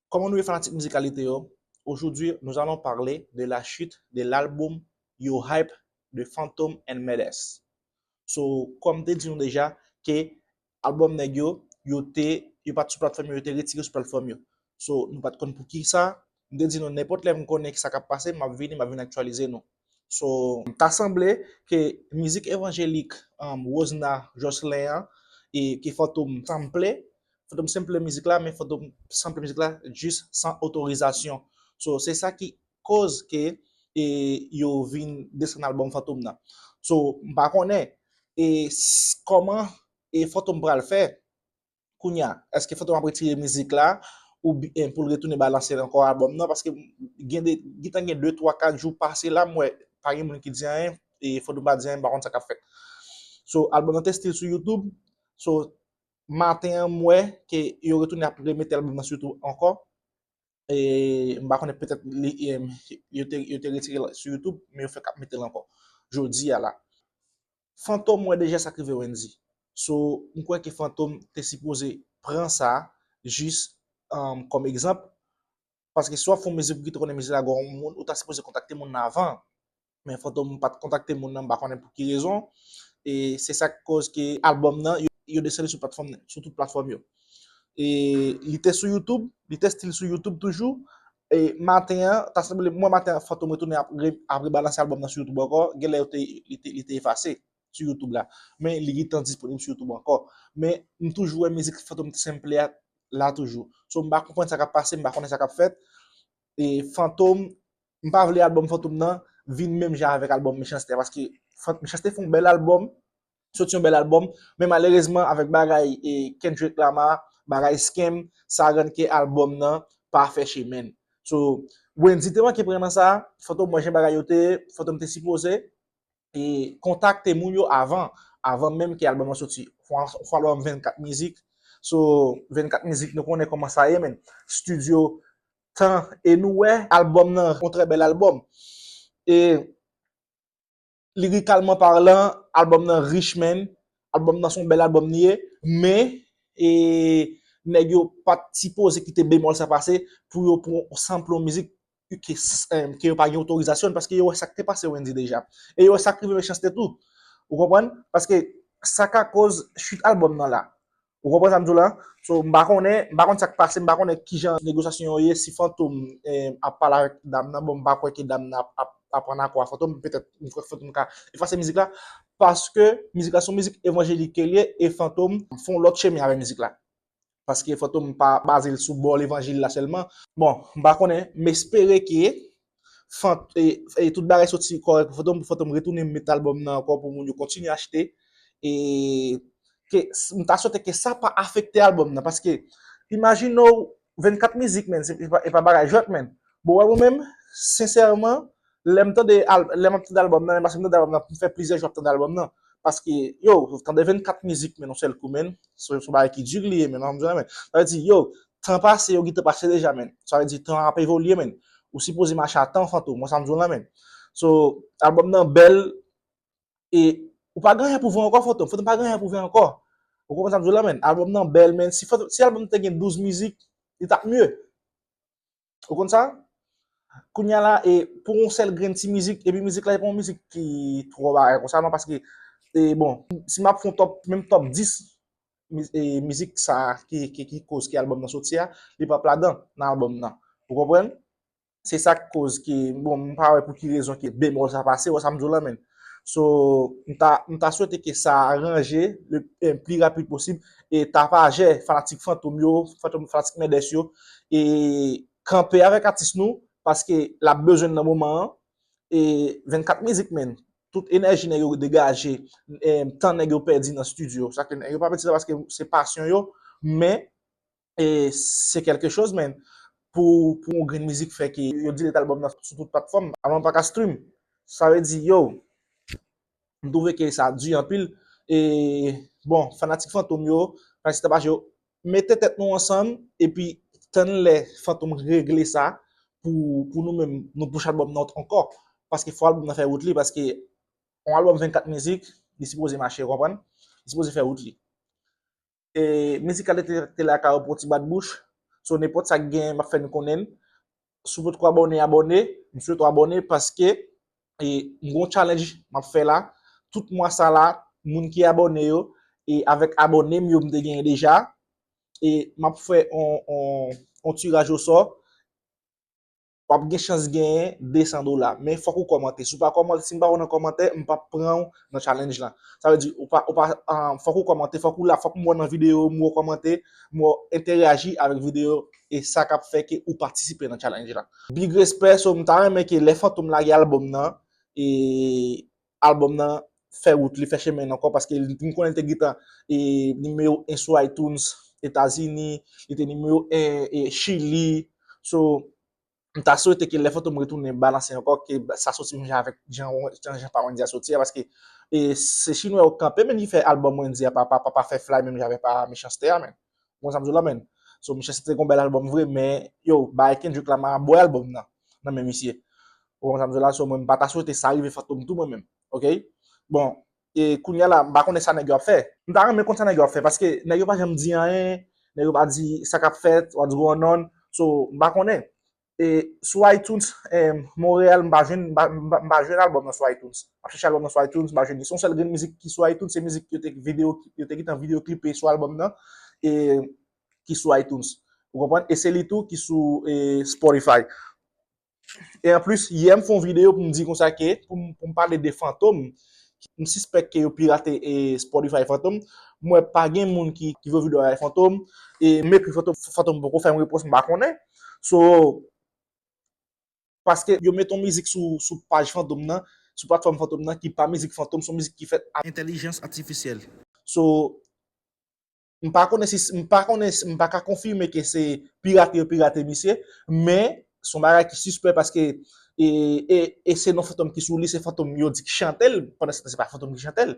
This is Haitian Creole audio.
Kòman nou ye fanatik mizikalite yo? Ojoudwi nous allons parler de la chute de l'album Yo Hype de Fantom and Medes. So, kòm te di nou deja ke album nèg yo, yo te yo pat sou platfòm yo, yo te retire sou platfòm yo. So, nou pat konn pou ki sa, M te di nou nenpòt lè m konnen sa k ap pase m ap vini, m ap vin aktyalize nou. So, ta sanble ke mizik evanjelik Rosna Jocelyn an e ke Fantom sample, Fantom sample mizik la men Fantom sample mizik la jis san otorizasyon. So, se sa ki koz ke e yo vin desann albòm Fantom nan. So, m pa konnen e kòman e Fantom pral fè Kounya eske fantom ap retire mizik la ou byen poul retounen balanse l ankò album nan paske gen de gentan gen 2 3 4 jou pase la m wè pa gen moun ki di anyen e fantom pa di anyen m pa konn sa kap fèt so album nan te still sou youtube so maten an m wè ke yo retounen ap remete album nan sou youtube ankò e m pa konnen petèt li yo te retire l sou youtube men yo fèk ap mete l ankò jodi a la. Fantom wè deja sak rive Wendy so m kwè ke Fantom te sipoze pran sa jis kòm egzanp paske si wap fè yon mizik pou ki te konnen mizik la gen yon moun ou ta sipoze kontakte moun nan avan men Fantom pat kontakte moun nan m pa konnen pou ki rezon e se sak koz ke albòm nan yo desann li sou platfòm sou tout platfòm yo e li te sou youtube li te still sou youtube toujou E maten an, ta sanble mwen maten an Fantom retounen ap rebalanse albòm nan sou YouTube ankò, genlè yo te li te efase sou YouTube la, men li gentan disponib sou YouTube ankò, men m toujou wè mizik Fantom T Simple a la toujou, so m pa konprann sa kap pase, m pa konnen sa kap fèt, e Fantom, m pa vle albòm Fantom nan vin menm jan avèk albòm Mechanste a, paske Mechanste fon bèl albòm, Sot yon bèl album, men malerezman avèk bagay Kendrick Lamar, bagay Skeme, sa rann ke album nan pa fè chemen l. So, Wendyy te manke pran nan sa, Fantom wè jan bagay yo te ye, Fantom te sipoze e kontakte moun yo avan, avan menm ke album nan soti. Yon fo album 24 mizik, so 24 mizik nou konnen kòman sa ye men, studio, tan e nou wè album nan yon trè bèl album. E. lirikalman parlan, albòm nan rich menn, albòm nan son bèl albòm li ye, men, e, nèg yo pat sipoze kite bemòl sa pase pou yo pran yon sanpl yon mizik ke yo pa gen otorizasyon l, paske yo wè sa k te pase Wendyy deja, e yo wè sa k rive Mechanste tou, ou konprann, paske sa ka koz chit albòm nan la, Ou konprann sa m di w la? So, m pa konnen, m pa konn sa k pase, m pa konnen ki jan negosyasyon yo ye, si Fantom ap pale avèk dam nan, bon m pa kwè ke dam nan ap ann akò ak Fantom, petèt m kwè Fantom ka efase mizik la, paske mizik la se yon mizik evanjelik ke l ye e Fantom fè yon lòt chemen avèk mizik la. Paske Fantom pa baze l sou bò levanjil la sèlman. Bon, m pa konnen, m espere ke Fant e tout bagay soti kòrèk pou Fantom pou Fantom retounen met album nan ankò pou moun yo kontinye achte e ke m ta swete ke sa pa afekte album nan paske imajine w 24 mizik menn e pa bagay jwèt menn bon wè mwen menm sensèman lè m tande lè m ap tande album nan menm paske m tande album nan pou m fè plizyè jou ap tande album nan paske yow tande 24 mizik menn yon sèl kou menn se yon bagay ki di li ye menn sa vle di yow Tan pase yo gentan pase deja menn sa vle di tan ap evolye menn ou sipoze mache a tan fantom wè sam diw la menn so album nan bèl e ou pa gen anyen pou vann ankò fantom fantom pa gen anyen pou vann ankò ou konprann sam diw la menn album nan bèl menn si fantom si album nan te gen 12 mizik li tap mye. Ou konn sa? Kounya la e pou yon sèl grenn ti mizik, epi mizik la e pa yon mizik ki twò bagay konsa non paske e bon, si m ap fè yon top, menm top 10 e mizik sa ki ki koz ki album nan soti a, li p ap ladan nan album nan. Ou konprann? Se sa k koz ke bon m pa wè pou ki rezon ke bemòl sa pase, ou wè sa m di w lan menn? So, m ta swete ke sa ranje le pli rapid posib e Tapajè, fanatik Fantom yo, fanatik Mèdès yo, e kanpe avèk atis nou, paske l ap bezwen n nan moman an. E 24 mizik menn, tout enèji nèg yo degaje, tan nèg yo pèdi nan stidyo, sa ke nèg yo pa pèdi sa paske se pasyon yo, men, e se kèlke choz men pou yon grenn mizik fè ke yo di lèt album nan sou tout platfòm alò m paka stream sa vle di yow m twouve ke sa di anpil e bon fanatik fantom yo fanatik tabashe yo mete tèt nou ansanm epi tann lè fantom regle sa pou nou menm nou push album nan ankò paske fò album nan fè wout li paske yon album 24 mizik li sipoze mache ou konprann li sipoze fè wout li. Mizikal te la kay ou pou yon ti bat bouch So nenpòt sa ki genyen map fè nou konnen l Si w potko abòne abòne M swete w abòne paske m gon challenge map fè la Tout mwa sa la moun ki abòne yo e avèk abòne m yo m te genyen deja e map fè yon tiraj osò wap gen chans genyen 200 dola men fòk ou kòmante si w pa kòmante si m pa wè w nan kòmantè m pap pran w nan challenge lan sa vle di ou pa ou pa fòk ou kòmante fòk ou la fòk m wè w nan video m wè w kòmante m wè w entèreyaji avèk video e sa kap fè ke ou patisipe nan challenge lan big respè so m ta renmen ke lè fantom lage album nan e album nan fè wout li, fè chemen l ankò paske m konnen li te gentan nimewo 1 sou iTunes Etazini, li te nimewo 1 Chili, so m ta swete ke lè Fantom retounen balanse ankò ke sa soti menm jan avèk jan pa Wendyy a soti a paske se chinwa yo kanpe menn ki fè album Wendyy a pa fè flay menm jan avèk pa Mechanste a menn. Ou konn sa m di w la menn? So misye se te gon bèl albòm vre men yo bay Kendrick Lamar bwè albòm nan nan men misye. Ou konn sa m di w la? So mwen m pa ta swete sa rive Fantom tou mwen menm. Ok? Bon, e kounya la m pa konnen sa nèg yo ap fè. M ta renmen konn sa nèg yo ap fè paske nèg yo pa janm di anyen, nèg yo pa di sa k ap fèt, what's going on. So m pa konnen. E sou iTunes Montréal m pa jwenn m pa jwenn album nan sou iTunes. M ap chèche album nan sou iTunes m pa jwenn li. Se yon sèl grenn mizik ki sou iTunes se mizik yo te video yo te gentan video clipe sou album nan e ki sou iTunes. Ou konprann? E se li tou ki sou Spotify. E an plis yè m fè yon video pou m di konsa ke pou m pale de Fantom m sispèk ke yo pirate Spotify Fantom. M wè pa gen moun ki vwe video avèk Fantom e m ekri Fantom Fantom poko fè m repons m pa konnen. So, paske yo met yon mizik sou paj Fantom nan, sou platfòm Fantom nan ki pa mizik Fantom, son mizik ki fèt ak entèlijans atifisyèl. So, m pa konnen si, m pa konnen si, m pa ka konfime ke se pirate yo pirate misye, men, son bagay ki sispè paske e se non Fantom ki sou li, se Fantom yo di ki chante l, pandan se tan se pa Fantom ki chante l.